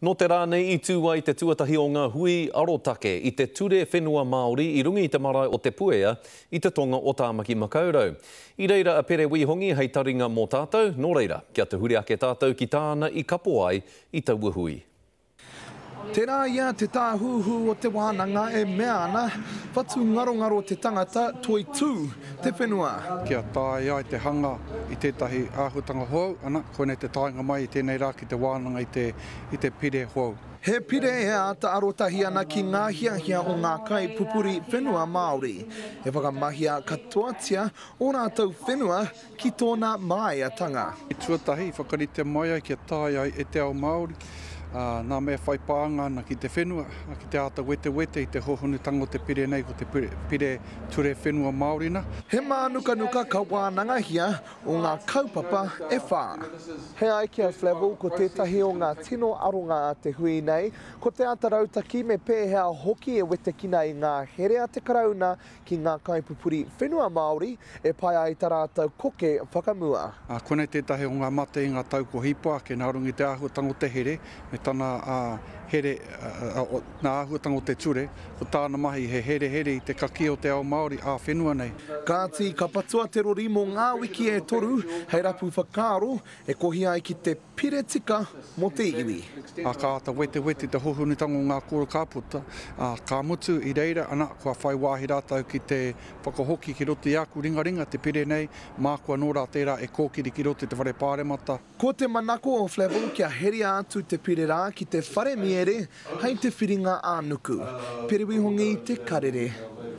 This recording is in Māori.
Nō te rā nei i tū ai te tuatahi o ngā hui arotake i te Ture Whenua Māori i runga i te marae o Te Puea i te tonga o Tāmaki Makaurau. I reira a Pere Wī Hongi hei taringa mō tātou, nō reira, kia tuhure ake tātou ki tāna i kapo ai i taua hui. Tērā ia te tāhuhu o te wānanga e mea ana, whatungarongaro te tangata, toitū. te whenua. Kia taea ai te hanga i tētahi āhuatanga hou, ana, koinei te taenga mai i tēnei rā ki te wānanga i te pire hou. He pire e āta arotahi ana ki ngā hiahia o ngā kaipupuri whenua Māori. E whakamahia katoatia ō rātou whenua Ki tōna māiatanga. Tuatahi i whakaritea mai ai kia tae ai e te ao Māori ngā mea whai pānga ana ki te whenua, ki te āta wetewete i te hōhonutanga o te pire nei, ko te Pire Ture Whenua Māori na. He mānukanuka ka wānangahia o ngā kaupapa e whā. He ai ki a Flavell ko tētahi o ngā tino aronga a te hui nei, ko te āta rautaki me pēhea hoki e wetekina ai ngā here a te Karauna ki ngā kaipupuri whenua Māori e pai ai ta rātou koke whakamua. Ā, konei tētahi o ngā mate i ngā tau kua hipa ake nā runga i te āhuatanga o te here me tana here, nā āhuatanga o te ture, ko tāna mahi he herehere i te kakī o te ao Māori ā-whenua nei. Kāti, ka patua te rori mō ngā wiki e toru hei rapu whakaaro E kohi ai ki te pire tika mō te iwi. Ā, ka āta wetewete te hohonutanga o ngā kōrero ka puta, ā, ka mutu, i reira, ana, kua whai wāhi rātou ki te whakahoki ki roto i āku ringaringa, te pire nei, māku anō rā tērā e kōkiri ki roto i te Whare Pāremata. Ko te manako o Flavell kia heria atu te pire rā ki te whare miere hei te whiringa ā-nuku. Periwihongi te karere.